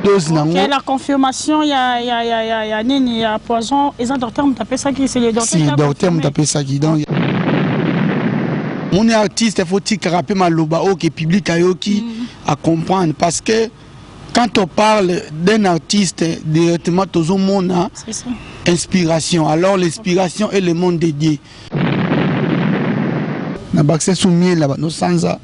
dose na okay, la confirmation ya ya ya ya ya nini ya poison eza docteur moto apesaki c'est le docteur si docteur moto apesaki donc moni artiste faut tikaka mpe maloba oyo ke public ayoki mm. a comprendre parce que quand on parle d'un artiste directement tozomona inspiration alors l'inspiration est le monde dédié na bakisa so miel na bando sanza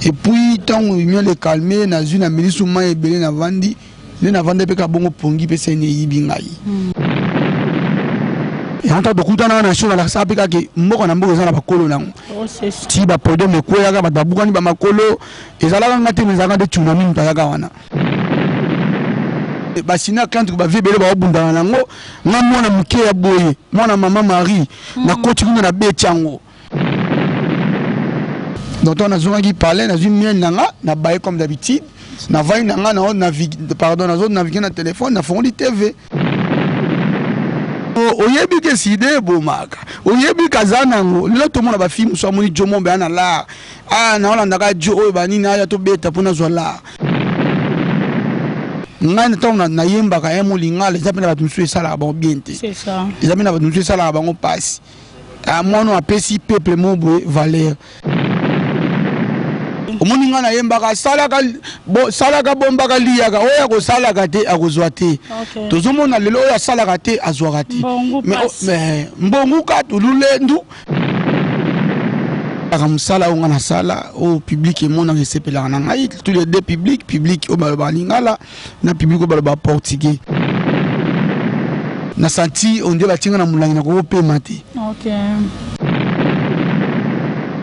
epuis ntango miel ekalme nazwi na meli so mai ebele na vandi nde na vandi mpe kabongo pongi mpe seni eyibi ngai hmm. yango tokutana na sho balakisa mpe kaka mboka na mboka eza na bakolo nango oh, ti bapodome ekweyaka bato babukani bamakolo ezalaka nga te ezalaka nde tsunami moto ayaka wana basi na kantuku bavie ebele baobundana nango nga mwana moke ya boye mwana mama marie mm. nakoti kuna na beti yango donc ntango nazongaki palais nazwi miel na nga na baye comme d'habitude navai na nga nao navigue pardon nazo navigue na telefone nafongoli tv oyebi ke sida ebomaka oyebi kaza nango lelo tomona bafilme mosu amoni jo mombe ana lar a ah, naolandaka jo oyo banini aya tobeta mpo nazwa lar ngai ntango nayembaka ya molingala eza mpe na bato mosusu esalaka bango bien te eza mpe na bato mosusu esalaka bango mpasi ah, mwana apesi peuple mo boye valeur omoni ngai nayembaka asalaka salaka bombaka liyaka oyo akosalaka te akozwa te tozomona lelo oyo asalaka te azwaka te mbongu katululendu kaka mosala oyo ngai nasala oyo publike emonaka esepelaka na ngai tous les deux publike publike oyo balobaka lingala na publike oyo balobaka portugais na santi onde batie ngai na molangi nakokopema te okay.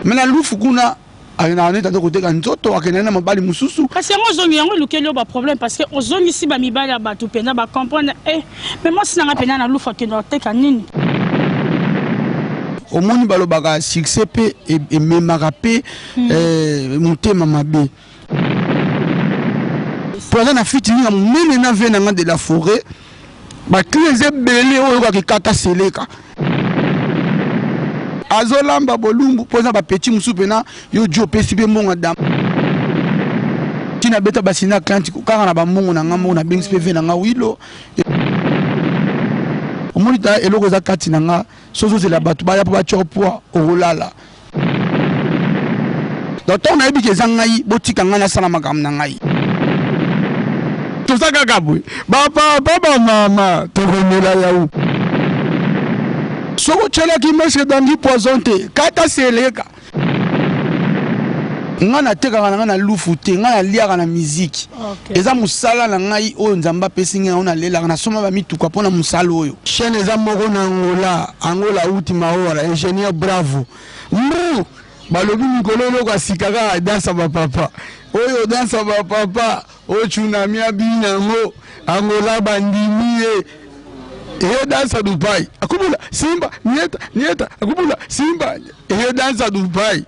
me na lufu kuna akenda wana tata koteka nzoto akenda na mobali mosusu kasi yango ozongi yango elukeli yo baproblème parce que ozongisi bamibali ya bato mpenza bacomprendre e eh, me mwasi nanga mpenza na lufa kende oteka nini omoni balobaka succès mpe e, ememaka mpe hmm. eh, motema mabe mpo aza na fitininga monene na vie na nga de la forêt Ba cris eza ebele oyo oyokaka ekata seleka. Azolamba bolumbu mpo eza ba petit mosusu pena yo Djo opesi mpe mbongo ya dama. Ti nabeta basi na clanti kaka na ba mbongo na nga moko nabengisi mpe vie na nga wilo. Omoni ta eloko eza kati na nga soki ozozela bato baya mpo batya yo poids okolala. Donc tango nayebi ke eza ngai botika ngai nasala makambo na ngai. Toza kaka boye ba papa ba mama tokomela yau. Soki otyelaki mese dangi poison te kata seleka. Ngai natekaka na ngai na lufu te ngai naliaka na miziki. Okay. eza musala na ngai oyo nzambe apesi ngai yango nalelaka nasomba bamituka mpo na mosala oyo chaine eza moko na angola angola uti maora ingénieur bravo mbu balobi mikolo eloko ya sika kaka dansa bapapa oyo dansa bapapa oyo tsunami abini yango angola bandimi ye eyo dansa dubai akubula simba nieta nieta akubula simba eyo dansa dubai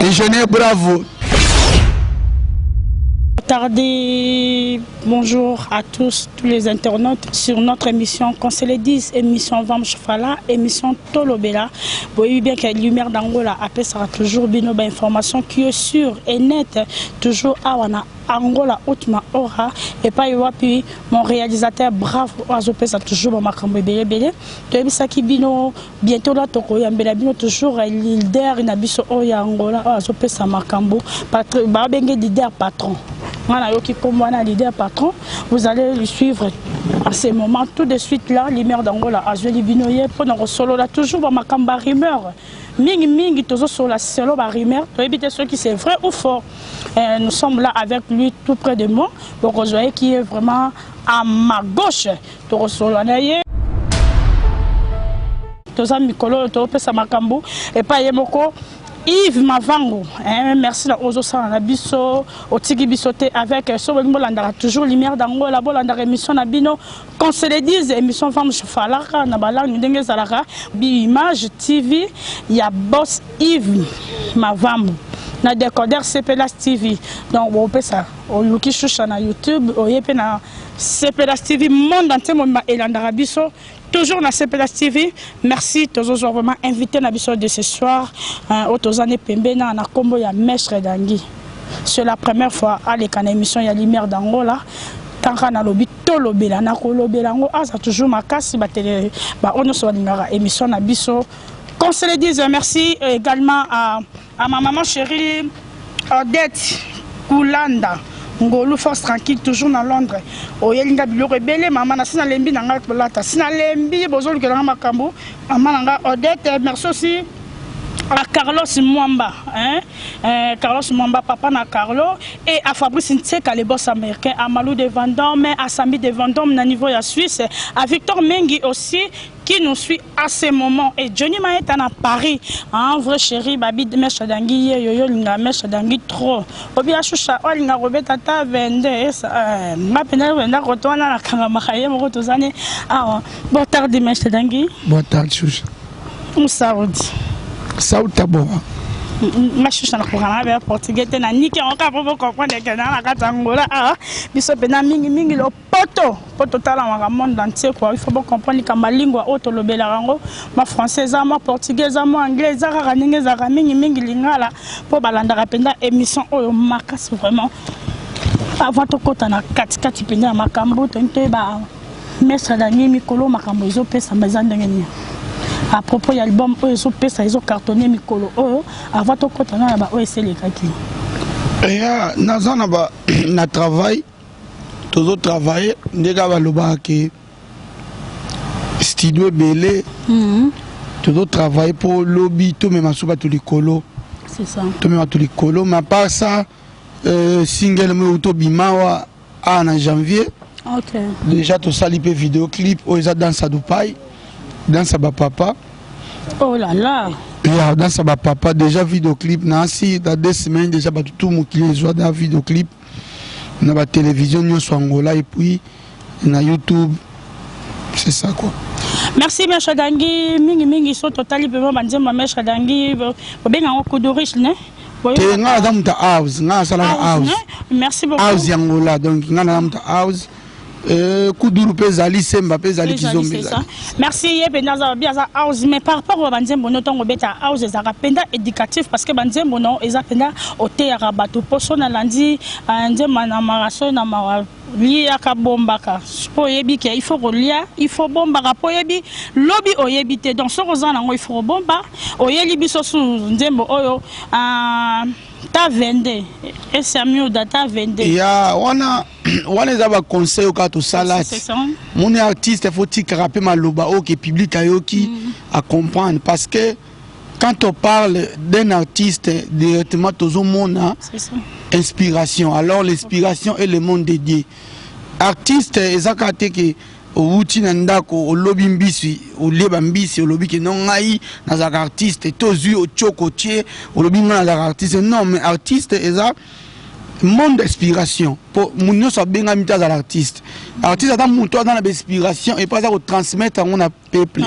Déjeuner, bravo. Tardi, bonjour à tous, tous les internautes sur notre émission Qu'on se le dise, émission Vam Chofala, émission Tolobela. Vous voyez bien que Lumière d'Angola après sera toujours bien une information qui est sûre et nette, toujours à Wana angola utma ora epai wapi mon réalisateur brave oyo azopesa toujours bamakambo ebele ebele toyebisaki bino Bientôt là tokoyambela bino toujours eh, leader na biso oyo ya Angola oyo azopesa makambo babenge leader patron nga nayoki nkombo wana leader patron vous allez le suivre en ce moment tout de suite là limer d'angola azweli bino ye mpo na kosolola toujours bamakambo ba rumeur mingi mingi tozosolola selo ba rumeur toyebi te soki c'est vrai ou fort eh, nous sommes là avec lui tout près de moi bokozwa ye qui est vraiment à ma gauche tokosolola na ye toza mikolo oyo topesa makambo epai ye moko Yves Mavango, eh, merci na Ozo Sana na biso, otiki biso te avec euh, Sobo Bolandaka, toujours lumière d'Angola, Bolandaka émission na bino, qu'on se le dise, émission femme chufalaka, na balangi ndenge zalaka, bi image TV, ya boss Yves Mavango. na décodeur CPLAS TV donc bopesa oluki shusha na YouTube oye pe na Sepelas TV monde entier mobimba elandaka biso toujours na Sepelas TV merci tozozwa vraiment invité na biso de ce soir euh, oyo toza ne pembe na na kombo ya maître Dangi c'est la première fois aleka na émission ya lumière d'Angola kaka nalobi tolobela nakolobela yango aza toujours makasi batele baoyo nyonso balingaka émission na biso qu'on se le dise merci également à Ah ma maman chérie Odette Kulanda ngolu force tranquille toujours na londres oyeli nga biloko ebele mama nasi nalembi na ngai kolata si nalembi bozolukela nga makambo mama na ngai odete merci aussi à Carlos Mwamba, hein, euh, Carlos Mwamba, papa na Carlo, et à Fabrice Ntseka, les boss américains, à Malou de Vendôme, à Samy de Vendôme, na niveau ya Suisse, à Victor Mengi aussi, qui nous suit à ce moment et Johnny Maeta na Paris ah, un vrai chéri babi mesha dangi ye yo yolinga mesha dangi trop obi ashusha olinga robeta ta 22 esa eh, nga penda wenda koto wana na kanga makaye moko tozane awa ah, bon tardi mesha dangi bon tardi shusha musaudi sauta boa nga shusha na kokana be portugais te na nike on ka po comprendre que na na kata ngola ah biso pena mingi mingi lo poto mpo totalamaka monde entier kua il faut bocomprendre likambo ya lingua oyo tolobelaka yango mwa français eza mwa portugais eza mwa anglais eza kaka ndenge ezalaka mingimingi lingala mpo balandaka mpenza émission oyo makasi vraiment avant tokɔta na katikati mpenza ya makambo toni toyeba mestre dani mikolo makambo ezopesama eza ndenge nini à propos ya album oyo ezopesa ezocartonne mikolo oyo avant tokɔta na na baoyo eselekaki eya naza na travail tozo travailler nde kaka balobaka ke studio ebele mhm. tozo travailler mpo lobi tomema so bato likolo tomema bato likolo ma part ça euh, single mo euti obima awa awa na janvier okay. déjà tosali mpe video clip oyo eza danse ya dupai danse ya bapapa oh là là ya danse ya bapapa déjà video clip na asi na deux semaines déjà bato tu mokili ezwa na video clip na ba television nyonso angola et puis na youtube c'est ça quoi merci mesha dangi mingi mingi so totali pema banzemba mesha dangi obenga yango kudurish ne te nga naza moto house nga nasalaka house merci beaucoup house yangola donc nga naza moto house Euh, kuduru mpe ezali semba mpe ezali kizomba ezali merci ye mpenza aza babi aza house mais par rapport oyo banzembo no ntango obeta house ezalaka mpenza éducatif parce que banzembo no eza mpenza oteyaka bato mpo so nalandi euh, nzembo na mara so na mawa liaka bombaka mpo oyebi ke il faut kolia il faut bombaka mpo oyebi lobi oyebi te donc soki oza nango il faut kobomba oyeli biso su nzembo oyo uh, ta 22 esamioda ta 22 ya wana wana eza ba conseil oka tosala moni artiste faut tikaka pe maloba oyo ke public ayoki mm. a comprendre parce que quand on parle d'un artiste directement tozomona inspiration alors l'inspiration est le monde dédié artiste eza kaka te ke owuti na ndako olobi mbisi olie bambisi olobi ke no ngai nazalaka artiste to ozwi otyoko otye olobi ngai nazalaka artiste non mais artiste eza monde inspiration po mutu nyonso abengami te azala artiste artiste ata mutu aza na bainspiration epo aza kotransmettre yango na peuple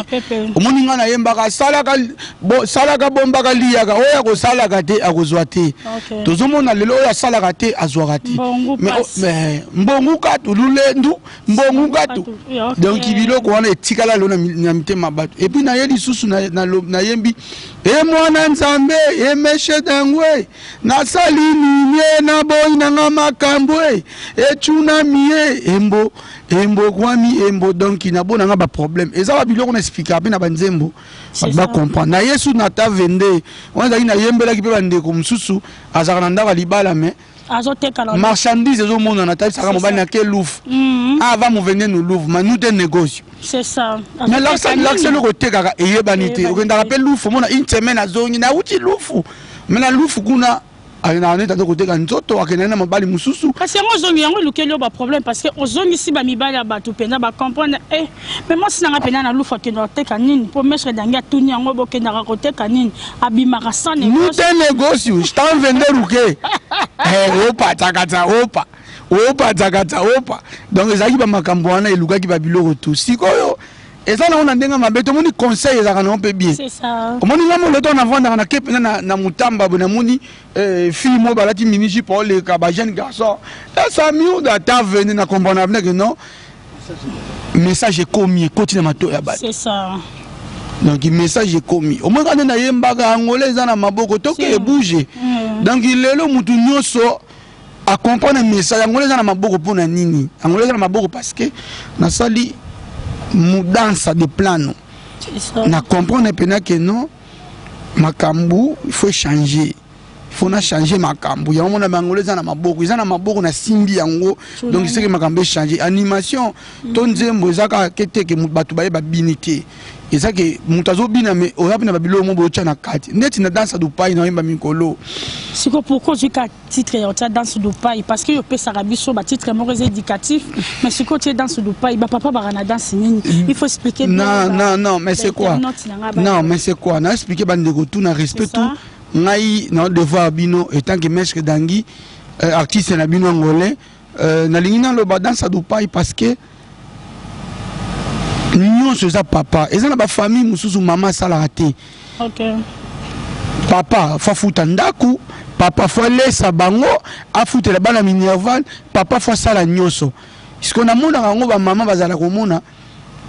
omoni ngai nayembaka salaka salaka bombaka liyaka oyo akosalaka te akozwa te tozomona lelo oyo asalaka te azwaka te mbongu katu lulendu mbongu katu donc biloko wana etikala lelo na mitema bato epuis naye lisusu nayembi e mwana nzambe emeshe dangwe Nasali nini e na boyi na nga makambo e ecunami e embo embo ekwami embo donki na bo na nga baproblème eza ba biloko na explika mpe na banzembo bato bacomprendre na yesu na ta 22 wana ezalaki nayembelaki mpe bandeko mosusu azalaka na ndako ya libala me marchandise ezomonana atalisaka mobali na ke louvre mhm. ava ah, movende no louvre manute negocio mais lakisa eloko otekaka eyebani te okendaka mpe lufu omona une semaine azongi nauti lufu Mais na lufu kuna ayina neta to koteka nzoto akenda na mobali mususu kasi yango ozongi yango elukeli yo ba problème parce que ozongisi ba mibali ya bato mpenza ba comprendre eh mais mwasi nanga mpenza na lufu akenda koteka nini mpo maître dangi atuni yango bokendaka koteka nini abimaka sans nous te négociu stan vende ruke eh, opa tsakatsa opa opa tsakatsa opa donc ezalaki bamakambo wana elukaki babiloko tu sikoyo eza nango na ndenge mabe tomoni conseil ezalaka nango mpe bien omoni nga moloto navandaka na kepe na, na mutamba bo namoni eh, fille moko balati miniji po oleka ba jeune garçon esa miuda ata vene na comprendre avenir que non message ekomi ekoti na mato ya bato donc message ekomi omoni kande nayembaka angola eza na maboko toke ebouge mm. donc lelo motu nyonso a comprendre message yango eza na maboko mpo na nini yango eza na maboko parce que nasali mudansa de plano na comprendre mpena ke non makambo il faut changer faut na changer makambo yango mona bangolo eza na maboko eza na maboko na simbi yango donc seke makambo echange animation to nzembo eza kaka ke te ke bato baye babini te eza ke moto azobina me oza mpe na babiloko mo bootya na kati ndeti na dansa dupai na oyemba mikolo siko pourkoi ozwi kati titre ya otia danse dupai parce que opesaka biso ba titre moko eza éducatif mais sikoyo otie danse dupai ba papa baka na danse nini mm. il faut expliquer non non non mais c'est quoi non mais c'est quoi na expliquer ba ndeko tout na respect tout ngai na devoir bino etant que maître dangi euh, artiste na bino angolais euh, nalingi naloba danse dupai parce que nyonso eza papa eza na bafamille mosusu mama asalaka te okay. papa fafuta ndako papa fo alesa bango afutela bana minerval papa fo asala nyonso siko namonaka yango bamama bazala komona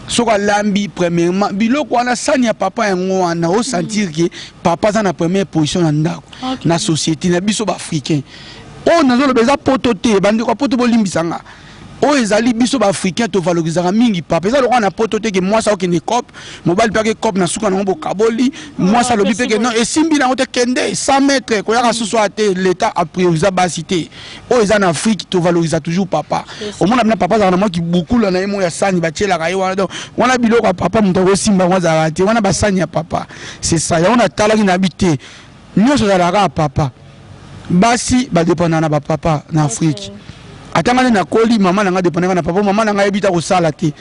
soki alambi premièrement biloko wana sani ya papa yango wana osentir ke papa aza na première position na ndako na société na biso baafricain oyo nazoloba eza poto te bandeko ya poto bolimbisa nga oyo ezali biso ba africain tovalorizaka mingi papa eza lokola na poto te ke mwasi akokende cop mobali mpe ake cop na suka nango bokaboli ah, mwasi alobi mpe ke non esimbi nango te kende 100 mètre koyaka mm. susu aya te l'état apriorise basi te oyo eza na afrique tovaloriza toujours papa omona bina papa azalaka na mwa kibukula na ye mo ya sani batielaka ye wana donc wana biloko ya papa moto akosimba yango azalaka te wana basani ya papa c'est ça yango natalaki na bi te Nyoso ezalaka kaka papa. Basi ba dépendaka na ba papa na Afrique. Ata nga nde nakoli mama na nga dépendaka na papa, mama na nga ayebi ta kosala te.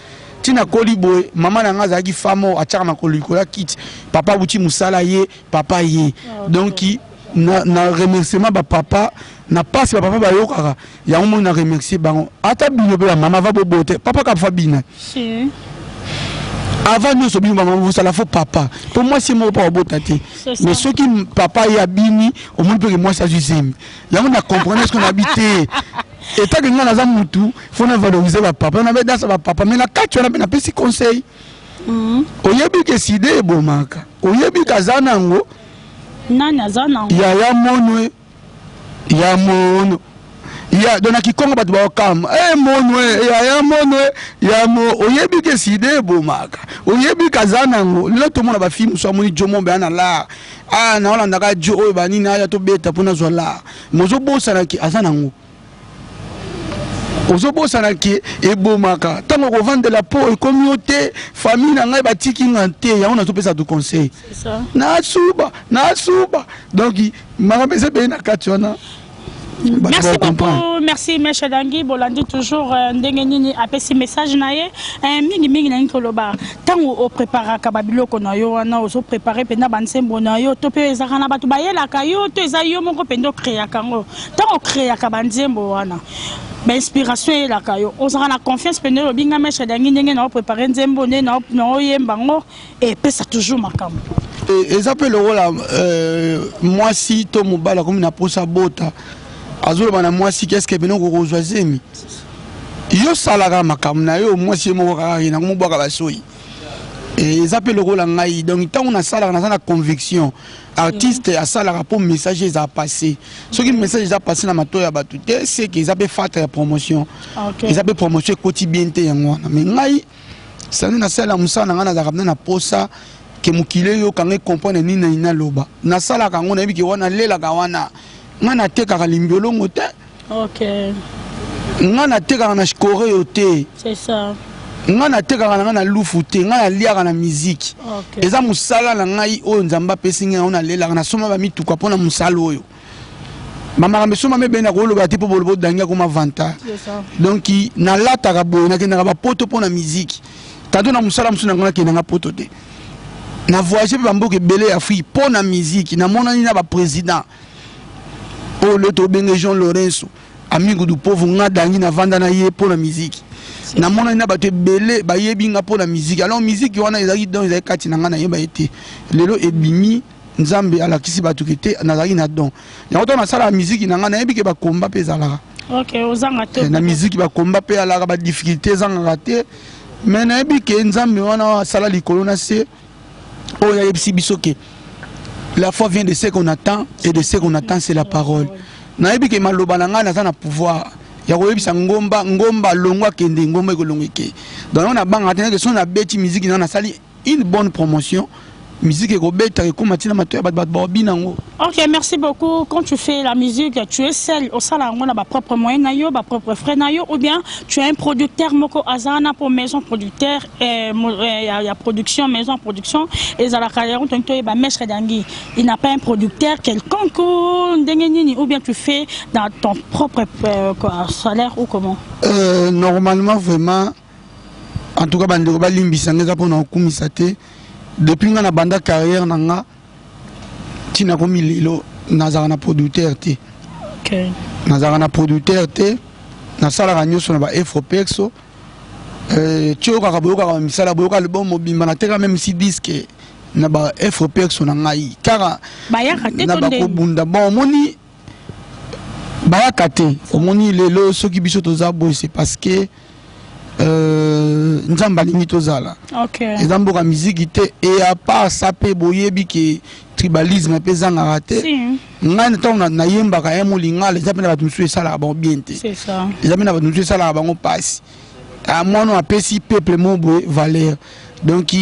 Ti nakoli boye, mama na nga azalaki femme oyo atiaka makolo likolo ya kiti, papa awuti mosala ye, papa ye. Donc na, na remerciement ba papa na pasi ba papa bayokaka. yango moi na remercier bango ata bino pe bamama va bobote papa kafa bina avant nyonso bino bamama bosala fo papa mpo mwasi ye moko mpo babota te mais soki papa ye abini omoni mpeke mwasi azwi zemi yango na comprendre soki nabi te etake ngai naza mutu fo na valorise bapapa nabe dansa bapapa mais na kati wana mpe napesi conseil mhm. oyebi ke side ebomaka oyebi ke aza nango yaya monwe ya mono ya donc na kikongo bato baokama e eh, mono eh, eh, ya ya mono ya mo oyebi ke sida ebomaka oyebi kaza nango lelo tomona bafilme mosusu amoni jo mombe ana lar a ah, naolandaka jo oyo banini aya tobeta mpo nazwa lar mozobosana ke aza nango ozobosana ke ebomaka ntango kovandela po ekomi yo te famille na ngai batiki nga te yango nazopesa tu conseil nasuba nasuba donc makambo eza ebele na kati wana merci beaucoup merci meshe dangi bolandi toujours euh, ndenge nini apesi message na ye euh, mingi mingi nalingi koloba ntango opreparaka babiloko na yo wana ozoprepare mpenza banzembo na yo to mpe ezalaka na bato bayelaka yo to eza yo moko mpenza okreaka yango ntango okreaka banzembo wana bainspiration eyelaka yo ozalaka na confiance mpe ndenge olobi nga mesha dangi ndenge na oprépare nzembo nde na oyemba yango epesa toujours makambo e, eza mpe lokola euh, mwasi to mobali akomi na mposa bota azoloba na mwasi keske pene okokozwa zemi yo salaka makambo na yo mwasi ye moko kaka ye nango mobwaka basoyi eza mpe lokola ngai donc ntango nasalaka naza na conviction artiste mm. asalaka mpo message eza passe soki mm. message eza passe na mato ya bato te seke eza mpe fatra ya promotion ah, okay. eza mpe promotion ekoti bien te yango wana mai ngai sani nasalela mosala na ngai nazalaka mpe na posa ke mokili eyoka ngai comprendre nini na nini naloba nasalaka yango nayebi ke wana lelaka wana ngai natekaka limbiolongo te Okay. nga natekaka na shikoreyo te nga natekaka na ngai na lufu te ngai naliaka na miziki okay. eza mosala na ngai oyo nzambe apesi ngai yango nalelaka nasomba bamituka mpo na mosala oyo bamakambo esombami ebele na koloba te mpo boloba odangi akoma vanta donk nalataka boye nakendaka bapoto mpo na miziki tanto na mosala mosusu na ngai nakendanga poto te na voyage mpe bamboka ebele ya afrike mpo na miziki namonani na baprésident oyo leo tobenge jean lorenso amigo du povo nga dangi navanda na ye mpo na miziki namonani na bato ebele bayebi nga mpo na miziki alors miziki wana ezalaki don ezalaki kati na ngai nayeba ye te lelo ebimi nzambe alakisi bato ke te nazalaki na don yango ntango nasalaka miziki na ngai nayebi ke bakomba mpe ezalaka eh, na miziki bakomba mpe alaka badifficulté ezangaka te me nayebi ke nzambe wana asala likolo na se oyo ayebisi biso ke la foi vient de ce qu'on attend et de ce qu'on attend c'est la parole nayebi ke maloba na ngai naza na pouvoir ya koyebisa ngomba ngomba alongo akende ngomba ekolongo eke donc yango nabangaka te nake soki nabeti miziki na nasali une bonne promotion musique ekobeta ekoma ntina mato ya bato bato baobi nango ok merci beaucoup quand tu fais la musique tu es seul osala yango na bapropre moyen na yo bapropre frais na yo ou bien tu as un producteur moko aza wana mpo maison producteur Eh, eh, ya, ya production maison production ezalaka yango toni toyeba maître dangi il n'a pas un producteur quelconque ndenge nini ou bien tu fais dans ton propre euh, quoi, salaire ou comment euh, normalement vraiment en tout cas bandeko balimbisa nga eza mpo na kokumisa te depuis nga na banda carrière na nga ntina komi lelo nazalaka na producteur te okay. nazalaka na producteur te nasalaka nyonso na ba efropexo Euh, toyokaka boyokaka ba misala boyoka album mobimba nateka meme si disque na ba efre perso na ngai kaka na bakobunda bon omoni bayaka te omoni lelo soki biso toza boye c'est parce que euh, nzambe alingi tozala okay. eza mboka miziki te e apart sa mpe boyebi ke tribalisme mpe ezangaka te si. ngai ntango nayembaka ya molingala eza mpe na bato mosusu esalaka bango bien te eza mpe na bato mosusu esalaka bango mpasi ah, mwana apesi peuple mo boye valeur donc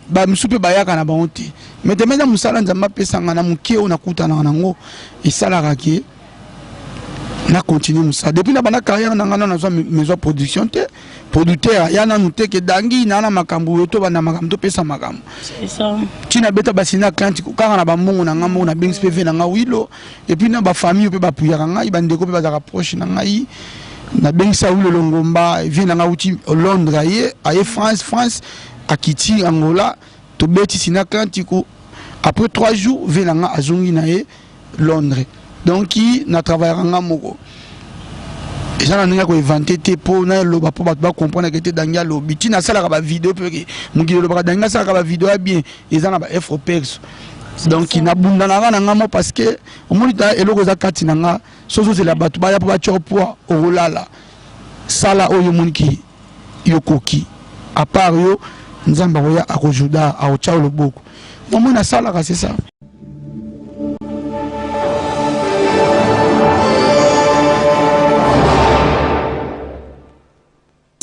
bamisusu mpe bayaka na bango te mai te meza mosala nzambe apesanga na moke oyo nakutanaka nango esalaka ke na continue mosala depuis na banda carrière na ngai na nazwa maison production te producteur aya nanu te ke dangi na na makambo oyo tobanda makambo topesa makambo ntina abeta basini atlantique kaka na bambongo na ngai moko na bengisi mpe ve na ngai wilo epuis na bafamille mpe bapuyaka ngai bandeko mpe bazalaka proche na ngai nabengisi ya wilo longomba vie na ngai auti londres aye aye france france akiti angola tobeti sina atlantico après trois jours vie na ngai azongi na ye londres donc ki na travaillaka nga moko eza na ndenge ya koevante te mpo naloba mpo bato bacomprendre ke te dangi alobi ntina asalaka bavideo mpe ke mokili olobaka dangi asalaka bavideo ya bien eza na baefropex donc nabundanaka na nga mo parce que omoni ta eloko eza kati na nga soki ozozela bato baya mpo batyo poa okolala Sala oyo omoni ki yo koki a part yo nzambe akoya akojuda akotia yo loboko namoni asalaka c'est ça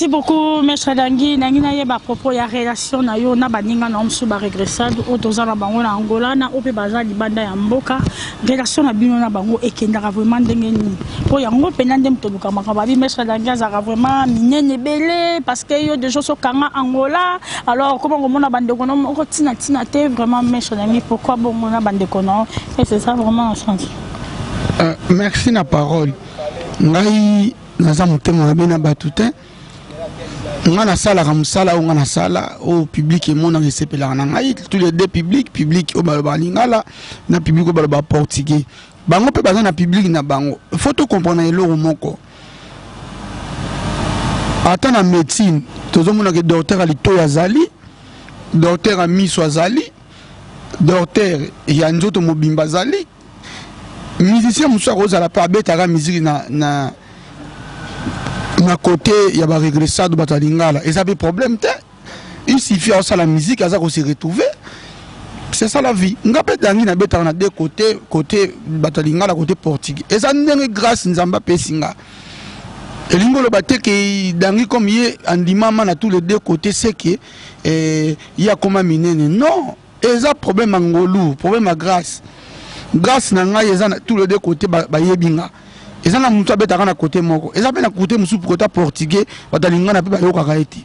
Merci beaucoup, Maître Dangi. Nangi na yeba propos ya relation na yo na baninga na omsu ba regressade oyo toza na bango na Angola na ope baza libanda ya mboka relation na bino na bango ekendaka vraiment ndenge nini mpo yango mpena nde moto oluka makambo abi maître dangi azalaka vraiment minene ebele parce que yo deja osokanga angola alors okoma komona bandeko no moko ntina ntina te vraiment maître dangi pourquoi bongo na bandeko no et c'est ça vraiment na sens euh, merci na parole ngai naza motema mabe na bato te nga nasalaka mosala oyo nga nasala oyo oh, publike emonaka esepelaka na ngai tous les deux publike publike oyo oh, balobaka lingala na publike oyo oh, balobaka portugais bango mpe baza na publike na bango fo tokomprana eloko moko ata na médecine tozomonaka docteur ya litoi azali docteur ya miso azali docteur ya nzoto mobimba azali musicien mosusu akozala mpe abetaka miziki na, na, na kote ya baregressado bato ya lingala eza mpe problème te il suffit aosala miziki aza kose retrouve c'est ça la vie nga mpe dangi nabetaka na de kote kote bato ya lingala kote portugais eza ndenge grâce nzambe apesi nga elingi oloba te ke dangi comme ye andimama na tous les deux kote seke eh, ye akoma minene non eza problème ya ngolu problème ya grace grace na ngai eza na tout le deux côté bayebi nga eza na motu abetaka na côté moko eza mpe na côté mosusu mpo kota portugais bato alingi nga na mpe bayokaka ye te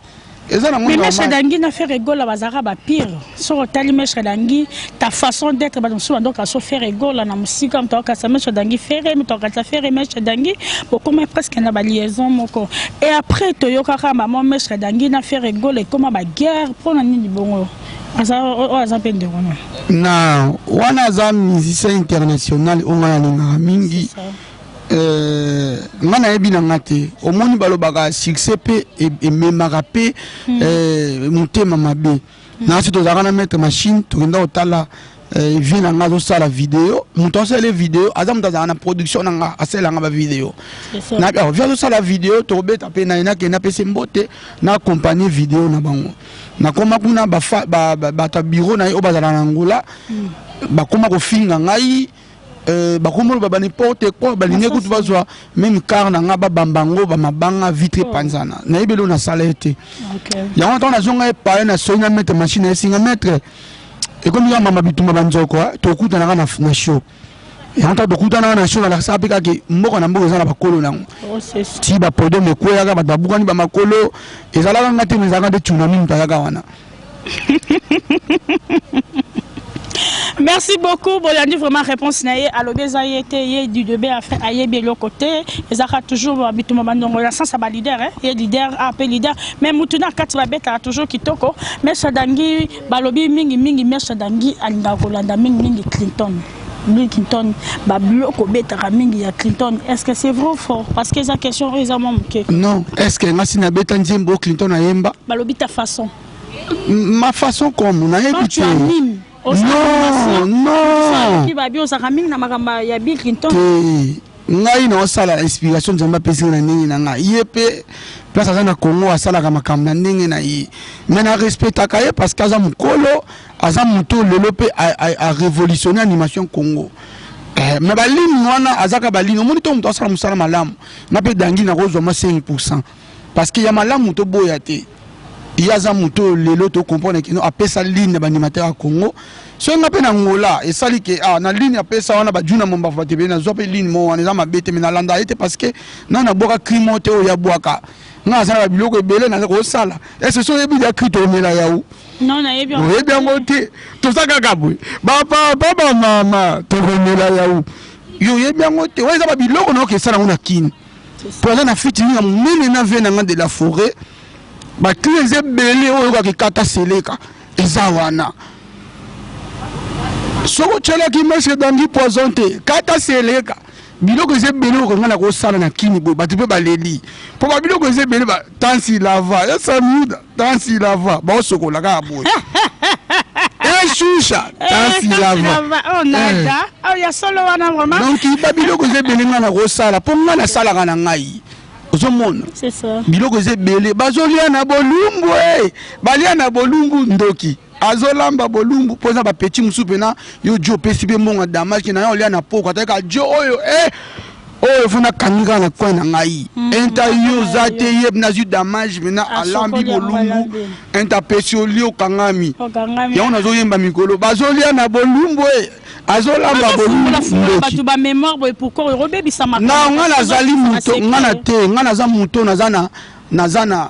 mesre dangi na faire egola bazalaka bapire soki otali mesre dangi ta façon d'être bato mosusu bandoka so faire egola na mosika moto akatisa mesre dangi fere moto akatisa fere mesre dangi bokoma presque na baliaison moko et après toyokaka maman mesre dangi na faire egola ekoma baguerre mpo na nini bongo aza oyo aza mpe ndeko na na wana aza musicien international oyo ngai nalingaka mingi Euh, nga nayebi na nga te omoni balobaka succès mpe e, ememaka mpe hmm. euh, motema mabe hmm. nasi tozalaka na maître machine tokenda kotala Eh, vie na nga azosala video moto asali video aza moto azalaka na production na nga asalelanga bavideo oh, vi azosala video tokobeta mpe na ye nakende apesi mbote na accompagne video na bango nakoma kuna bato ya biro na ye oyo bazala na ngola hmm. bakoma kofinga ngai Euh, bakomolo ba n'importe quoi balingi kutu bazwa meme car na nga babamba yango bamabanga vitre epanzana oh. nayebi elo nasala ye te yango ntango nazonga epaye na soyi na maître machine esinga maître ekomi kaka mama bitumba banzoko eh, tokutanaka na show yango ntango tokutanaka na show nalakisaka mpe kaka mboka na mboka eza na bakolo na yango oh, ti bapodome ekweyaka bato babukani bamakolo ezalaka nga te ezalaka nde tsunami moto ayaka wana merci beaucoup bolandi vraiment réponse na ye alobi eza ye te ye dudebe afe ayebi eloko te ezalaka toujours bituma bandongo na sansa balider eh? ye lider ape ah, lider mais mutu na kati babetaka toujours kitoko meso dangi balobi mingi mingi meso dangi alingaka kolanda mingi mingi clinton Bill Clinton ba biloko betaka mingi ya Clinton est-ce que c'est vrai ou faux parce que eza question oyo eza mwa moke non est-ce que nga si nabeta nzembo Clinton ayemba balobi ta façon ma façon comme nayebi te non non ki babi ozaka mingi na makambo ya Bill Clinton ngai naosala inspiration nzambe apesi na ndenge na ngai ye mpe place aza na congo asalaka makambo na ndenge na ye me na respectaka ye parce que aza mokolo aza moto lelo mpe arevolutionne animation congo eh, me balini wana azaka balini omoni to moto asala mosala malamu nga mpe dangi nakozwa mwa 5 pourcent parce que ya malamu toboya te ye aza moto oyo lelo tocomprendre kino apesa ligne ya baanimateur ya congo soki nga mpe na ngola esali ke ah, na ligne apesa wana bajuna mombafu batebele nazwa mpe ligne mo wana eza mabe te me nalanda ye te parce que nga nabwaka crimo te oyo yabwaka nga azalaka biloko ebele naza kosala ese so oyebi ya cri toomela yau Non, nayebi yango. Oyebi yango te. Toza kaka boye. Ba papa ba mama tokomela yawu. Yo oyebi yango te. Oyo eza ba biloko na okesa nango na Kin. Po aza na fiti ninga munene na vie nanga de la forêt. Ba clé eza ebele oyo kaka kata seleka. Eza wana. Soko chalaki mestre dangi poison te. Kata seleka. biloko eza ebele oyo kanga na kosala na kini boye bato mpe baleli mpo babiloko eza ebele ba tansi lava ya samiuda tansi lava baosokola kaka boye eshusha eh, tansi eh, lava oh, eh. oh, ya solo wana vraimen donc babiloko eza ebele ngai na kosala mpo ngai nasalaka na ngai ozomona biloko eza ebele bazolia na bolumbu e balia na bolumbu ndoki azolamba bolumbu mpo eza bapeti mosusu mpena yo jo opesi mpe mbongo ya damage na yo olia na poko atayaka jo oyo e oyo fo nakangi kaka na coin na ngai mm. enta yo oza te ye nazwi damage mpena alambi bolumbu enta apesi olie okangami yango nazoyemba mikolo bazolia na bolumbu e azolamba bolumbu nga nazali moto nga na te nga naza moto naza na naza na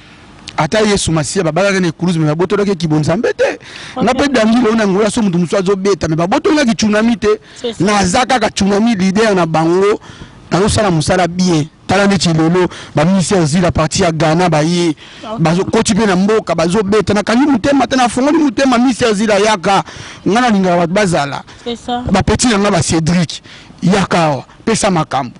ata yesu masiya babalaki na ekulusu me babotolaki ekibo nzambe te nga mpe dangile oyo na ngola so moto mosusu azobeta me babotolaki tsunami te naza kaka tsunami lider na bango nazosala mosala bien tala neti lelo baminisi ya zila parti ya ghana baye bazokoti mpe na mboka bazobeta nakangi motema te nafongoli motema minisi ya zila yaka nga nalingaka bato bazala bapeti na nga ba cédrik yaka awa pesa makambo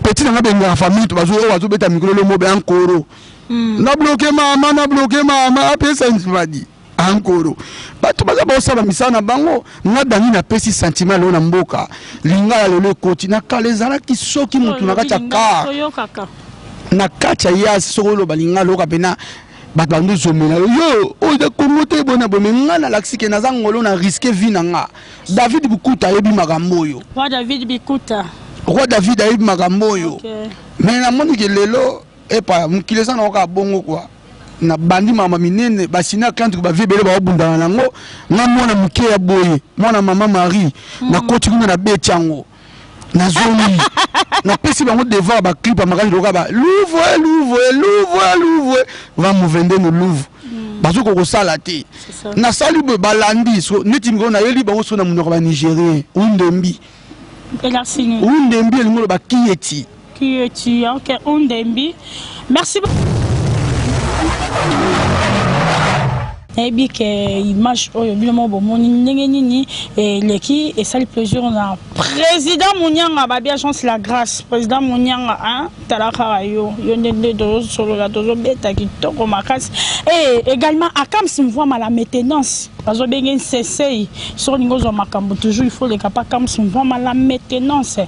petit na nga bengaka famille to bazo oyo azobeta mikolo lomo be ankoro hmm. na bloke mama na bloke mama apesa nzibadi ankoro bato baza baosala misala na bango nga dangi napesi sentiment lelo na mboka lingala lelo ekoti na kala ezalaki soki motu na kati ya kar na kati ya yasi soki oloba lingala oyoka mpena bato bando zomela yo yo oyo da kongo te bona boye me ngai nalakisi ke naza ngolo na riske vi na nga david bikuta ayebi makambo oyo roi david bikuta roi david ayebi makambo oyo okay. me namoni ke lelo epa mokili eza na oka bongo kua na bandi mama minene basina kantu bavie ebele baobundana nango nga mwana moke ya boye mwana mama marie mm. nakoti kuna na beti yango nazongi napesi bango devoir baclip ya makasi lokola ba louvre louvre louvre louvre va movende no louvre mm. bazokoka kosala te nasali boye balandi neti mikolo nayeli bango soki na monoko ya banigérien undembi undembi elingi oloba kiyeti Qui est tu? Ok, Undembi. Merci beaucoup. nayebi ke image oyo bino moko bomoni ndenge nini eleki esali plaisir na président monianga babi agence la grâce président monianga hein? tala kaka yo yo nde nde tozosolola tozobeta kitoko makasi e également akams mvwama la maintenance bazobenge nsesei soki olingi ozwa makambo toujours il faut oleka pa akams mvwama la maintenance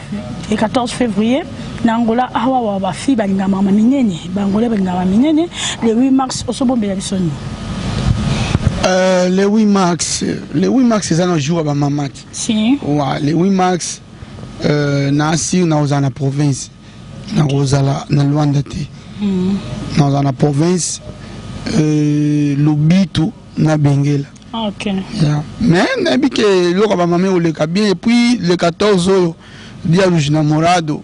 le 14 février na angola awa wa bafi balingama ma minene baangolais balingama minene le 8 mars osobombela biso nini Euh, le 8 mars le 8 mars eza na jour ya bamama te si. wa le 8 mars euh, na asir nakozala na province nakozala na luanda te mm. nakozala na province euh, lobitu na bengela Ah, ok. Yeah. Mais nayebi ke eloko ya bamama ekoleka bien epuis le 14 oyo dialuge na morado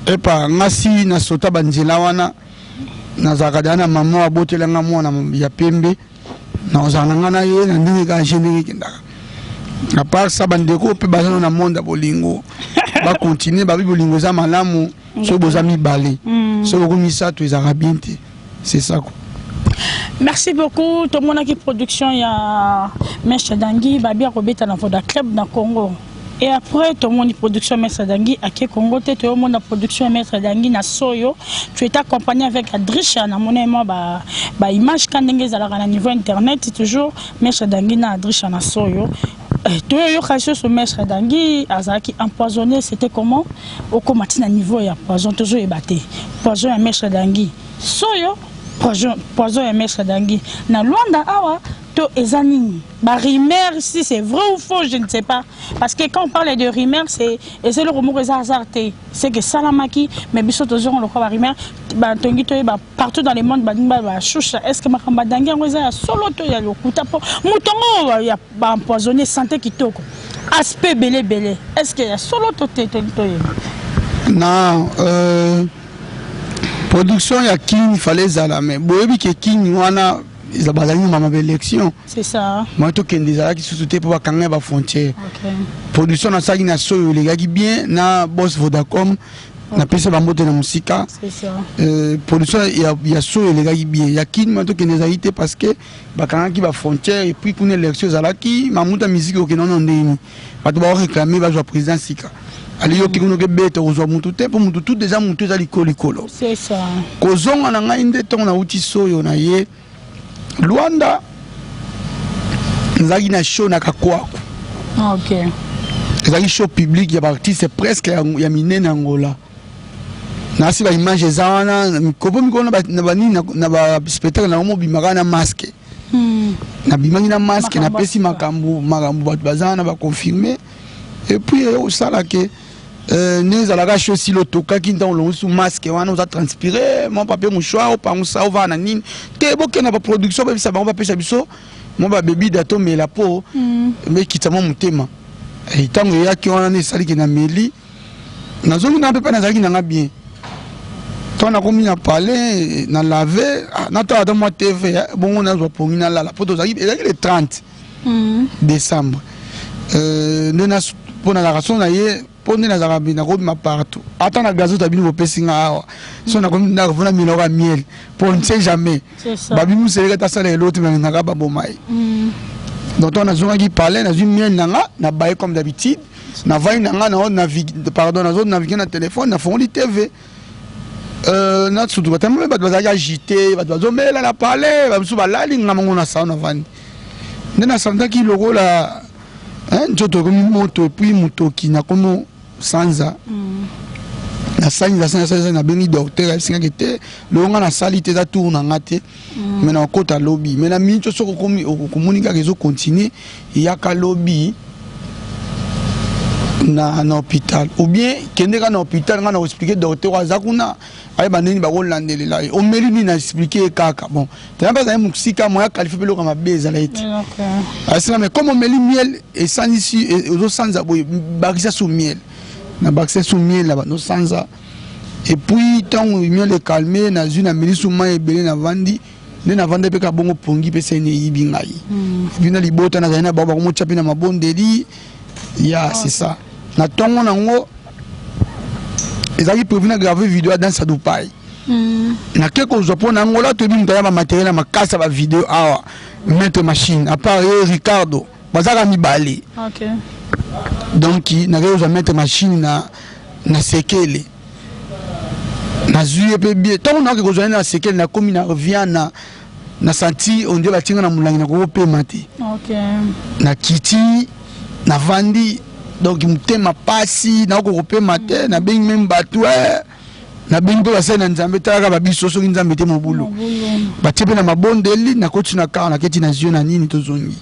epa ngasi na sota banzela wana nazalaka deya na mama abotela nga mwana ya pembe nakozala na nga na ye na ndenge kaka genere ekendaka apart sa bandeko mpe baza na monde ya bolingo bakontinue babi bolingo eza malamu soki boza mibale mm. soki bokomi misato ezalaka bien te c'est ça quoi merci beaucoup tomonaki production ya meshe dangi babi akobeta na voda club na congo et après tomoni production maître dangi ake congo te toyomona production ya maître dangi na soyo tu est accompagné avec adrisha namoni mwa baimage ka ndenge ezalaka na niveau internet toujours maître dangi na adrisha na soyo Eh, toyoyoka lisusu maître dangi azalaki empoisonné c'était comment okoma ntina niveau ya poison tozoyeba te poison ya maître dangi soyo poison, poison ya maître dangi na luanda awa to eza nini barumeur si c'est vrai ou faux je ne sais pas parce que quand on parle de rumeur c'est eza eloko moko eza hasard te ce que salamaki mais biso tozongo lokola ba rumeur ba tongi toyeba partout dans le monde balingi ba ba shusha est ce que makambo adangi yango eza ya solo to ya lokuta mpo moto yango ya ba empoisonné santé kitoko aspect ebele ebele est ce que ya solo to te tongi toyeba na euh, production ya king fale ezala mais boyebi ke king wana bazali na mama baélection mai tokende ezalaki susu te mpo bakanga ya bafrontière production nasalaki na soyo elekaki bien na bos vodacom napesa bambote na mosika euh, production ya soyo elekaki bien ya kin mai tokende ezalaki te parce que bakangaki bafrontière epuis kuna élection ezalaki mamuta miziki okende ono ndeni bato bao réclame bazwa président sika aliyoki kuno kebeta kozwa mutu te mpo mutu tout eza mutu eza likolo likolo kozonga na ngai nde ntongo nauti soyo na ye lwanda nazalaki na show na kakwaku okay. ezalaki show publique ya baartiste presque ya, ya minene angola nasi ba image eza wana mikopo mikolo na banini na ba spectacle nango mobimaka na masque hmm. nabimaki na masque napesi makambo makambo bato baza wana baconfirme epuis eyo kosala ke euh, nde ezalaka sho sili otokaki ntango olongosi masque wana oza transpire mwa papier mouchoir opangusa ovaa na nini te bokenda baproduction bayebisa bango bapesa biso mwa babebi da tomela mpo hmm. mekita mwa motema ntango eh, eyaki wana nde esaliki na meli nazongi na pepe nazalaki nanga bien ntango nakomi na palais na lave ah, natala ata mwa tv eh, bongo nazwa pongi nalala mpo tozalaki ezalaki le 30 mm. décembre euh, nde mpo nazalaka so na ye mpo nde nazalaka bi nakobima partout ata na gazo tabini bopesi nga awa so nakomi nakofuna miloko ya miel mpo on ne sait jamais babimiseleka ata sala elo te balingaka baboma ye mm. donc ntango nazongaki palais nazwi miel na nga nabaye comme d'habitude navandi na ngai nao navigue pardon nazo navigue na telefone nafongoli tv euh, nasutuka te mpe bato bazalaki agite bato bazomela na palais bamosusu balali nga mango na salo navandi nde nasantaki lokola nzoto ekomi moto epuis motoki nakomi sanza mm. nasangi nasangi nabengi docteur ayebisingaki te longo nga nasali te eza tour na nga te Mm. mais na okota lobi mais na miniti oso okomoni kaka ezo continue yaka lobi na, na hôpital ou bien kende ka na hôpital nga na koexplike docteur aza kuna ayeba ndeni bakolandelela ye omeli nini na explike ye kaka bon tena mpe azali mosika moya qualifie mpe eloko mabe ezala ye te asina mais comme omeli miel esanisi e, ozosanza boye bakisa so miel na bakisa so miel na banosanza et puis ntango union le calme nazwi na milisu mai ebele navandi nde navandaki mpe kabongo pongi mpe seni eyibi ngai hmm. epuis na libota nazali na bango bakomotya mpe na mabondeli ya ah, c'est ça na ntongo nango ezalaki prévu na grave video ya danse ya dupai hmm. nake kozwa mpo na angola toyebi moto aya bamateriel ya makasi ya bavideo awa maître machine apart ye ricardo bazaka mibale okay. donc nakei kozwa maître machine na, na sekele nazwi ye mpe bie ntango nayoki kozwa ye na sekele nakomi na viana na santi ondie batinga na molangi nakoki kopema te okay. na kiti navandi donc motema mpasi nakoki kopema te nabengi meme bato eh. na bino mpe basali na nzambe talaka babiso soki nzambe te mobulu batie mpe na mabondeli nakoti na kar naketi na zio na nini tozongi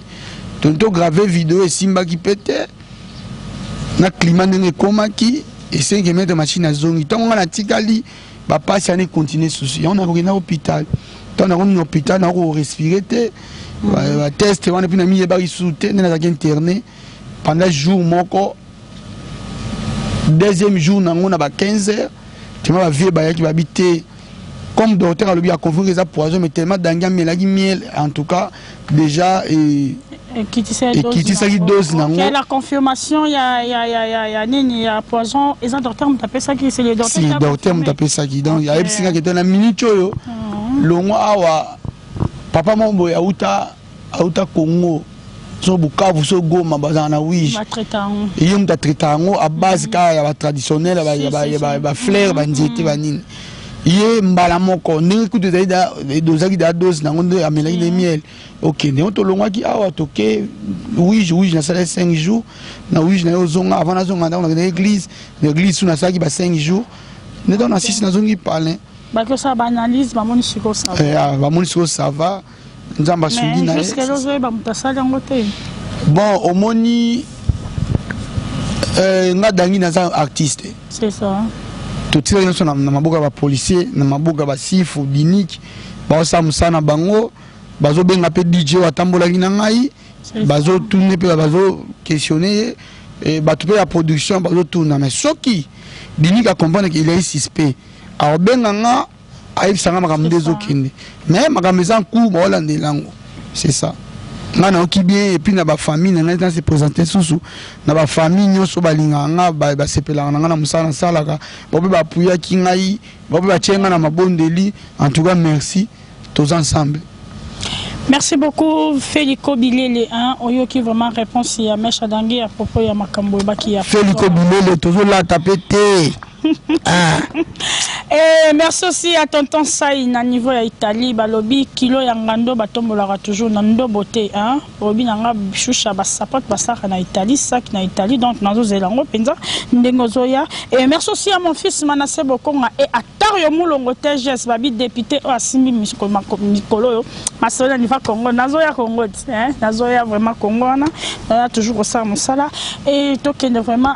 tonto grave video esimbaki mpe te na klima ndenge ekomaki esengi emetre machine azongi ntango ngai natikali bapasi ana ekontinue susu yango nakokenda hôpital ntango nakomi na hôpital nakorespire te bateste wana mpe namiyebaki susu te nde nazalaki interne pendant jour moko deuxième jour nango na ba 15 heures tima bavie bayaki babi te comme docteur alobi aconfirme eza poison mais tellement dangi amelaki miel en tout cas déjà et ekitisaki dose nango la confirmation ya ya ya ya ya nini ya poison eza docteur moto apesaki c'est le docteur si docteur moto apesaki donc ayebisi nga kete na minute oyo longwa awa papa moko boye auta auta congo so bukavu so goma bazala na wige ye moto atraita yango a base kaka ya batraditionnel ya baflaire banzete banini ye mbala moko ndenge kutu ezali dozaki da dose na yango nde amelaki na miel ok ndenge tolongwaki awa toke wige wige nasalaki 5 jours na wige na ye ozonga avant nazonga ndako nakendaki église na église su nasalaki ba 5 jours nde ntango na sisi nazongi palin bakosala baanalyse bamoni sikoyo sava bamoni sikoyo sava nzambe asungi na ye bon omoni euh, nga dangi naza artiste totikaki nyonso na maboko ya bapolicier na maboko ya basifu diniki baosala mosala na bango bazobenga mpe dj oyo atambolaki na ngai bazotune mpe bazoquestionne ye eh, bato mpe ya production bazotuna mais soki diniki akomprendre ke il est suspect akobenga nga ayebisa nga makambo nde ezokende mais makambo eza ncour baolandela yango c'est ça ngai nayoki bien epuis na bafamille na ngai na se présente susu na bafamille nyonso balingaka nga basepelaka na ngai na mosala nasalaka baope bapuyaki ngai baope batye ngai na mabondeli en tout cas merci toza ensemble Merci beaucoup Feliko Bilele hein oyoki vraiment réponse ya Mesha Dangi à propos ya makambo ebaki ya Feliko Bilele tozo la taper te Ah. Eh, merci aussi à tonton Sai na niveau ya Italie balobi kilo ya ngando batombolaka toujours na ndobo te hein obi na nga shusha ba sapote basaka na Italie sac na Italie donc nazo zela ngo penza ndenge ozoya et merci aussi à mon fils Manassé Bokonga et à Tario Mulongo TGS babi député oyo asimbi mikolo oyo masolo ya niva Congo nazo ya Congo hein nazo ya vraiment Congo wana toujours kosala mosala et tokende vraiment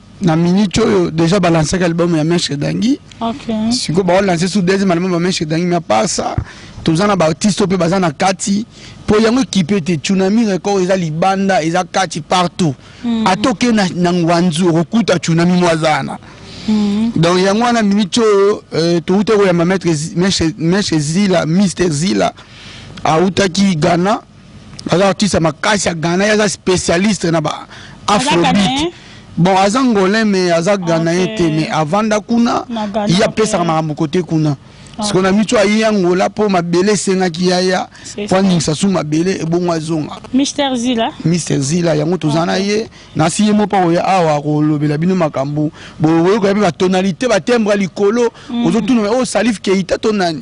na minute oyo déjà balansaki album ya mestre dangi okay. sikoyo baolanse su deuxième album ya mestre dangi mais apart ça toza na baartiste mpe baza na kati mpo yango ekipe te tsunami record eza libanda eza kati partout mm. ata oke na, na ngwanzu okokuta tsunami mwa aza wana mm. donc yango wana minute oyo euh, touta koyamba mestre zila mister zila autaki ghana aza artiste ya makasi ya ghana ye aza spécialiste na ba afrobeat bon aza ngolin mais aza ghanayen okay. te mais avanda kuna ye apesaka makambo kote kuna ah. sikoyo na mitu aye angola mpo mabele esengaki yaya mpo aningisa su mabele ebongo azonga mister zila mister zila yango toza na ye nasi ye moko akoya awa akolobela bino makambo boyokoya mpe batonalité batembra likolo mm. ozotuna oyo oh, salif keita to nani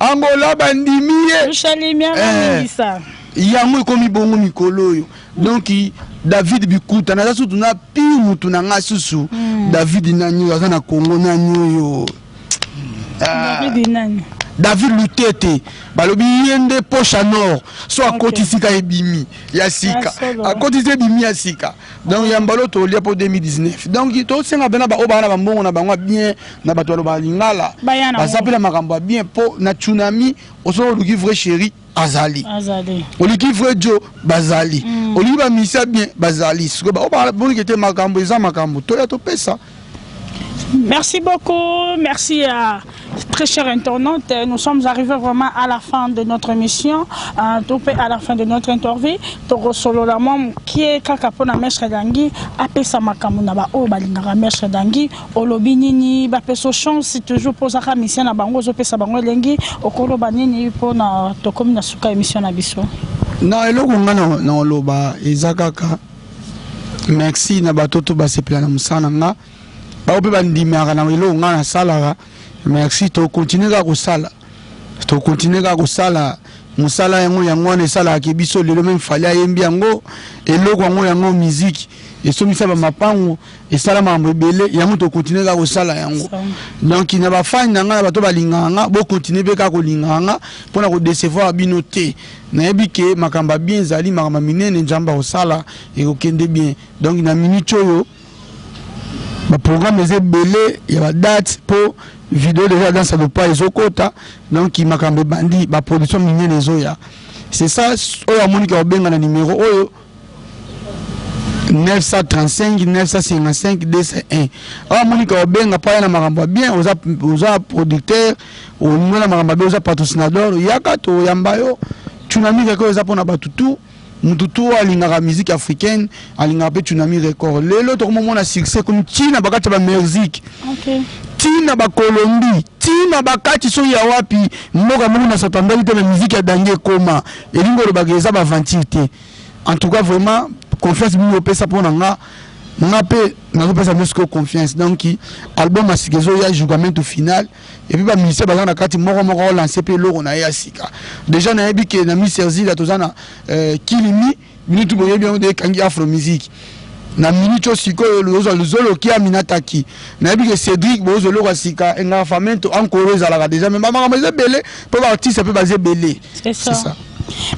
Angola bandimi ye. Tushalimia eh. mangisa. Yango ekomi bongo mikolo oyo. Donc David Bikuta naza sutu na pi mutu na nga susu. Hmm. David nani oyo aza na Congo nani oyo. Ah. David nani? David Lutete balobi ye nde poche à nord so akotisi ka ebimi ya sika akotisi ebimi ya sika donc ya mbalo tolia mpo 2019 donc tosenga mpena baoyo baa na bambongo na bango ya bien na bato baloba lingala baza mpe na makambo ya bien mpo na tsunami osoki oluki vrai chéri azali oliki vrai jo bazali mm. oliki bamisia bien bazali sikoyo baoyo bamonike te makambo eza makambo toya topesa Merci beaucoup, merci à très chère internaute. Nous sommes arrivés vraiment à la fin de notre émission, euh, tout fait à la fin de notre interview. Toko solo la mom qui est kaka pona mestre dangi, apesa makamu na ba o balingaka mestre dangi, olobi nini ba peso chance toujours posa ka mission na bango zo pesa bango elengi, okolo ba nini pona tokomi na suka émission na biso. Non, eloko nga na na oloba eza kaka merci na bato to basepela na mosala na nga bango mpe bandimaka na eloko ngai nasalaka merci tokontinue kaka kosala tokontinue kaka kosala mosala yango yango wana esalaka ke biso lelo meme fali ayembi yango eloko yango yango miziki esombisa bamapango esala makambo ebele yango tokontinue kaka kosala yango donc na bafani na ngai na bato balingaka nga bokontinue mpe kaka kolingaka nga mpo na kodecevoir bino te nayebi ke makambo ya bien ezali makambo ya minene nzambe akosala ekokende bien donc na minute oyo baprogramme eza ebele ya badate mpo video deja dansa lopa ezokota donc makambo ebandi baproduction minene ezoya c'est ça oyo amoniki akobenga na numero oyo 935 955 201 awa monika obenga mpo aya na makambo ya bien oza, oza producteur olingo na makambo ya bien oza patrocinador yaka toyamba yo tsunami record eza mpo na bato tu moto tu oyo alingaka musique africaine alingaka mpe tsunami record lelo tokomomona succès komi ntina bakati ya bamexique okay. ntina bakolombi ntina bakati soki ya wapi mboka moko na satandali te na miziki ya dange ekoma elingi oloba ke eza ba aventure te en tout cas vraiment confiance bino opesa mpo na nga nga mpe nazopesa bino sikoyo confiance donc album ya sika ezoya jougamento final epuis bamusicien baza na kati moko moko olanse mpe eloko na ye ya sika deja nayebi ke na mi serzila toza na euh, kilimi Minutu boyebi yango de ekangi Afro Musique. Na minutu oyo sikoyo lozwa luzolo kia minataki. Nayebi ke Cedric bozo eloko ya sika enga famento ankoro ezalaka deja mais ba makambo eza ebele mpo ba artiste mpe baza ebele. C'est ça. C'est ça.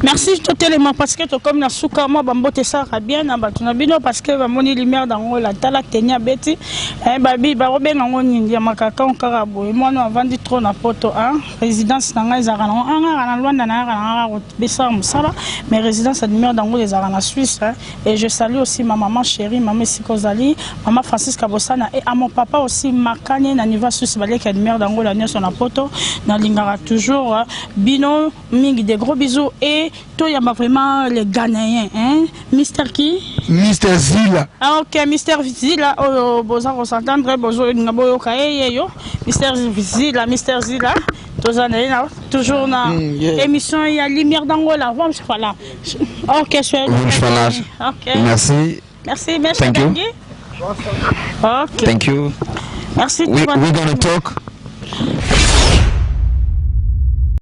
Merci totelema parce que tokomi na suka mwa bambote esalaka bien na bato na bino parce que bamoni lumière d'angola tala teni abeti eh, babi bakobenga yango nini ya makakao kaka boye mwana avandi trop na poto a résidence na ngai ezalaka nango ah, ngaka na lwanda nayaka na ngaka kobesaka mosala mais résidence ya demeure dango ezalaka na suisse hein. et je salue aussi ma maman chérie mama esika ozali mama francisca bosana et à mon papa aussi makanye na niveau ya suisse baleki ya demeure dango la nyonso na poto nalingaka toujours hein. bino mingi des gros bisous et toyamba vraiment le ghanéen hein? mister ki mister zila ah, ok mister zila oyo oh, boza kosentendre bozolinga boyoka ye ye yo mister zila mister zila toza na ye na toujours na mm, yeah. émission ya lumière d'angola vamos falar ok vamos falar ok merci merci merci thank you ok thank you merci we, we're gonna talk